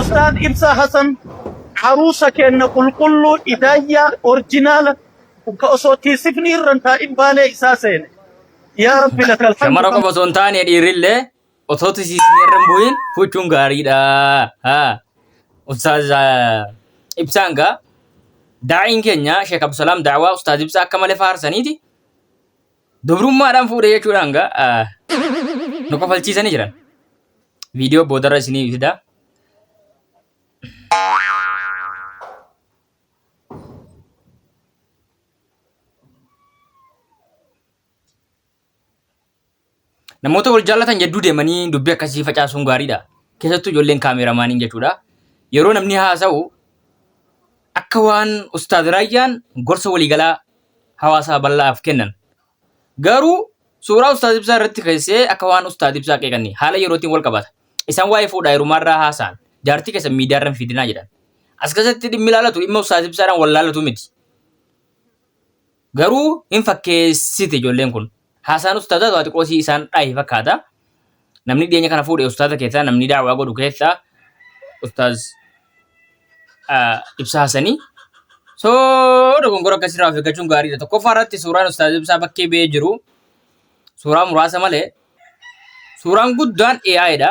Ustaaz Ibsaa Hasan haruusa keenna qulqulluu idaayyaa orjinaala ka osoo tiisifni irra hin taa'in baalee isaa seene. Yaa Rabbi lakal hamdu Shamara qofa osoo hin taane dhiirrillee osoo tisiisni irra hin bu'in fuuchuun gaariidha. Haa. Ustaaz Ibsaan gaa daa'iin keenya Sheek Abdusalaam Daawaa Ustaaz Ibsaa akka malee faarsaniiti. Dubrummaadhaan fuudhe jechuudhaan gaa ah, nu kofalchiisanii jiran. Viidiyoo boodarra isinii fida. Namoota wal jaallatan jidduu deemanii dubbii akkasii facaasuun gaariidha. Keessattuu ijoolleen kaameeramaaniin jechuudha. Yeroo namni haasa'u Akka waan Ustaaz Raayyaan gorsa waliigalaa hawaasaa bal'aaf kennan. Garuu suuraa Ustaaz Ibsaa irratti keessee akka waan Ustaaz Ibsaa qeeqanii haala yerootiin wal qabata. Isaan waa'ee fuudhaa heerumaarraa haasa'an. Jaartii keessan miidiyaarra hin fidinaa jedhan. As keessatti dhimmi ilaalatu dhimma Ustaaz Ibsaadhaan wal ilaallatu miti. Garuu hin fakkeessiti ijoolleen kun. Haasaan ustaazaa waa xiqqoo si isaan dhaahe fakkaata. Namni dhiyeenya kana fuudhe ustaaza keessaa namni daawwaa godhu keessaa ustaaz ah, Ibsaa Hasanii. So dogongora akkasirraa of eeggachuun gaariidha. Tokkoffaa irratti suuraan ustaaz Ibsaa bakkee ba'ee jiru suuraa muraasa malee suuraan guddaan AI dha.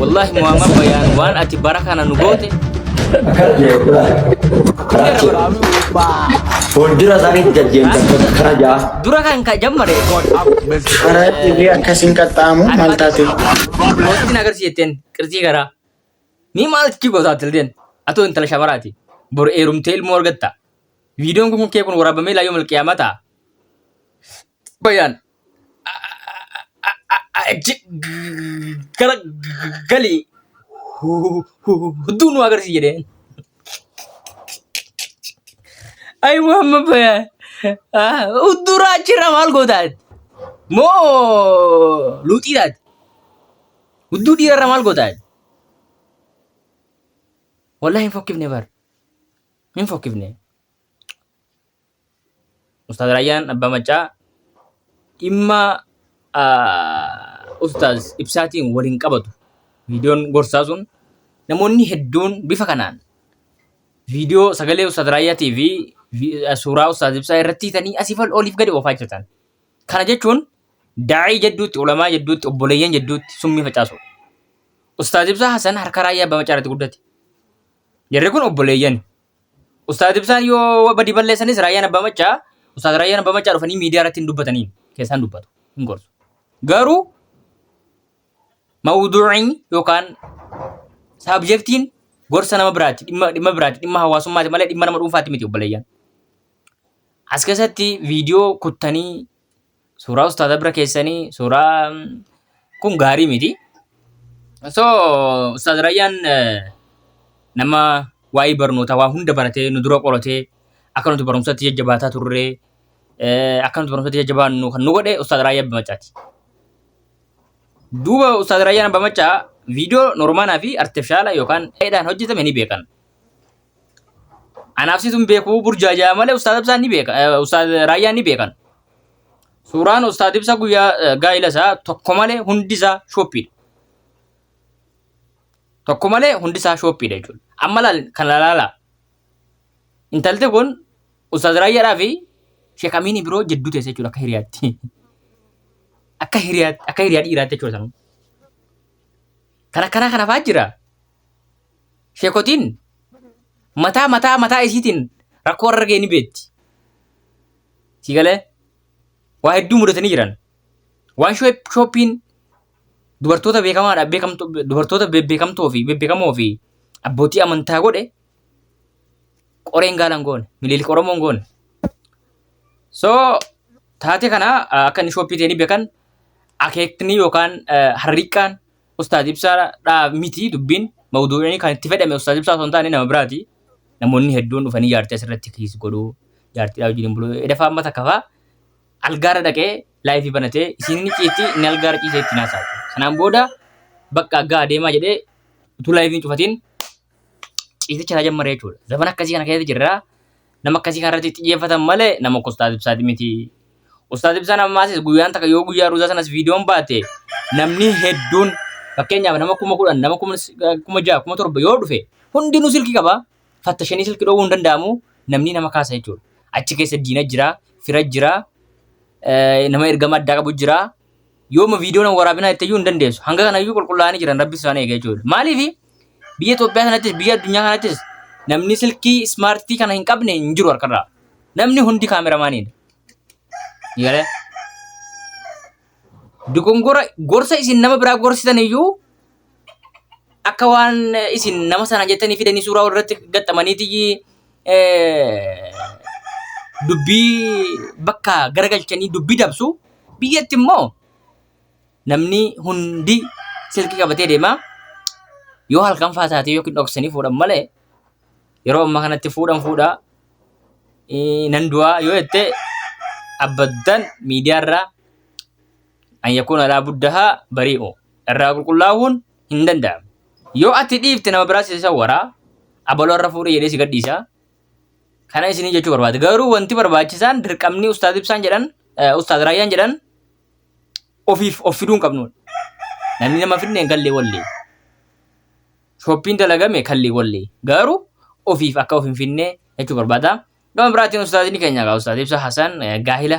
Wallahi Muhammad Bayaan waan ati bara kana nu goote Akkas jechuudha. Karaa jira. Fuuldura isaaniitti gad deemtan karaa ja'a. dura kan ka jammare Karaa dhiirri akkasiin qaxxaamu maal taate? mootiin agarsi jetteen qirxii garaa ni maalti kii gootaa tilteen atoo intala shabaraati bor eerumtee ilmoo argatta viidiyoon kun kee kun waraabamee laayyoo malqiyaamaa ta'a Xabayaan gara galii hudduu nu agarsiis jedheen. Ayi Muhammad Bayaan hudduu raachirra maal gootaati? Moo luuxii taati? Hudduu dhiirarra maal gootaati? Wallahi hin fokkifne bar. Hin fokkifne. Ustaaz Raayyaan Abbaa Maccaa dhimma Ustaaz Ibsaatiin wal hin qabatu. Viidiyoon gorsaa sun namoonni hedduun bifa kanaan viidiyoo sagalee Ustaaz Raayyaatii fi suuraa Ustaaz Ibsaa irratti hiitanii asii fal oliif gadi oofaa jirtan. Kana jechuun daa'ii jidduutti, ulamaa jidduutti, obboleeyyan jidduutti summii facaasuudha. Ustaaz Ibsaa Hasan harka Raayyaa Abbaa Maccaa irratti guddate. Jarri kun obboleeyyan. Ustaaz Ibsaan yoo badii balleessanis raayyaan abbaa maccaa ustaaz raayyaan abbaa maccaa dhufanii miidiyaa irratti hin dubbataniin keessaan dubbatu hin gorsu. Garuu mawduuciin yookaan saabjektiin gorsa nama biraati dhimma dhimma biraati dhimma hawaasummaati malee dhimma nama dhuunfaati miti obboleeyyan. As keessatti viidiyoo kuttanii suuraa ustaaza bira keessanii suuraa kun gaarii miti. So ustaaz Rayyaan eh, nama waa'ee barnootaa waa hunda baratee nu dura qoratee akka nuti barumsatti jajjabaataa turre eh, akka nuti barumsatti jajjabaannu kan nu godhe ustaaz Raayyaa Abba Maccaati. Duuba ustaaz Raayyaan Abba Maccaa viidiyoo noormaanaa fi artifishaala yookaan dheedhaan hojjetame ni beekan. Anaaf situ hin beeku burjaajaa malee ustaaza ibsaan ni beeka eh, ustaaza raayyaan ni beekan. Suuraan ustaaza ibsa guyyaa eh, gaa'ila isaa tokko malee hundi isaa shooppiidha. Tokko malee hundi isaa shooppiidha jechuudha. Amma laal kan laalaala. Intalti kun ustaaza raayyaadhaa fi sheekamiinii biroo jidduu teessa jechuudha akka hiriyaatti. Akka hiriyaa akka hiriyaa dhiiraatti jechuudha sanuu. Kan akkanaa kana fa'aa jira. Sheekotiin mataa mataa mataa isiitiin rakkoo argee ni beekti. Si galee waa hedduu mudatanii jiran. Waan shooppiin dubartoota beekamaadha beekamtoo dubartoota bebbeekamtoo fi bebbeekamoo fi abbootii amantaa godhe qoreen gaalan goone miliilika oromoon goone. So taate kana akka inni shooppii ta'e ni beekan akeekni yookaan harriiqqaan Ustaaz ibsaa dhaa miti dubbiin mawduu'ii kan itti fedhame ustaaz ibsaa osoo hin taane nama biraati. Namoonni hedduun dhufanii jaartii asirratti kiis godhu jaartiidhaa wajjin bulu. Edafaa amma takka faa algaarra dhaqee laayifii banatee isiin ni ciisti inni algaarra ciisee itti naasaati. Kanaan booda bakka aggaa adeemaa jedhee utuu laayifiin cufatiin ciisicha irraa jammaree jechuudha. Zaman akkasii kana keessa jirra. Nama akkasii kana irratti xiyyeeffatan malee nama akka Ustaaz Ibsaati miti. Ustaaz Ibsaan ammaasis guyyaan takka yoo guyyaa ruuzaa sanas viidiyoon baate namni hedduun fakkeenyaaf nama kuma kudhan nama kuma s- kuma ja'a kuma torba yoo dhufe hundinuu silkii qaba. Fattashanii silkii dhoowwuu hin danda'amu namni nama kaasa jechuudha. Achi keessa diina jira, fira jira, eh, nama ergama addaa qabu jira. yooma viidiyoon waraabinaa itti iyyuu hin dandeessu. Hanga kana iyyuu qulqullaa'anii jiran rabbi isaan eega jechuudha. Maaliif biyya Itoophiyaa kanattis biyya addunyaa kanattis namni silkii ismaartii kana hin qabne hin jiru harkarraa. Namni hundi kaameramaaniidha. Eegalee dogongora gorsa isin nama biraa gorsitan iyyuu akka waan isin nama sana jettanii fidanii suuraa walirratti gaxxamaniiti dubbii bakka garagalchanii dubbii dabsu biyyatti immoo namni hundi silkii qabatee deema yoo halkan faa taatee yookiin dhoksanii fuudhan malee yeroo ammaa kanatti fuudhan fuudha Eh, nan du'aa yoo jette abbaddaan miidiyaarraa an yakuuna laa buddahaa barii'u irraa qulqullaa'uun hin danda'amu yoo ati dhiifte nama biraa si sawwaraa abaloo irra fuudhee jedhee si gadhiisa kana isinii jechuu barbaade garuu wanti barbaachisaan dirqamni ustaaz ibsaan jedhan eh, ustaaz raayyaan jedhan ofiif of fiduu hin qabnu namni nama fidne hin gallee wallee shoppiin dalagame kallee wallee garuu ofiif akka of hin finne jechuu barbaada gama biraatiin ustaazni keenya egaa ustaaz ibsa hasan eh, gaahila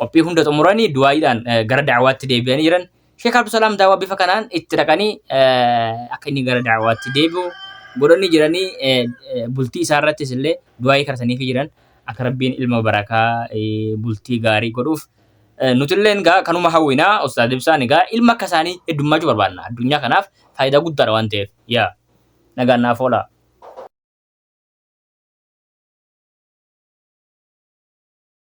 qophii hunda xumuranii du'aa'iidhaan gara da'awaatti deebi'anii jiran. Sheek Abdusalaam daawaa bifa kanaan itti dhaqanii akka inni gara da'awaatti deebi'u godhanii jiranii bultii isaa irrattis illee du'aa'ii kadhataniifi jiran akka rabbiin ilma barakaa bultii gaarii godhuuf. Nutilleen egaa kanuma hawwinaa Ustaaz Ibsaan egaa ilma akka isaanii heddummaachuu barbaanna addunyaa kanaaf faayidaa guddaadha waan ta'eef yaa nagaan naaf oolaa.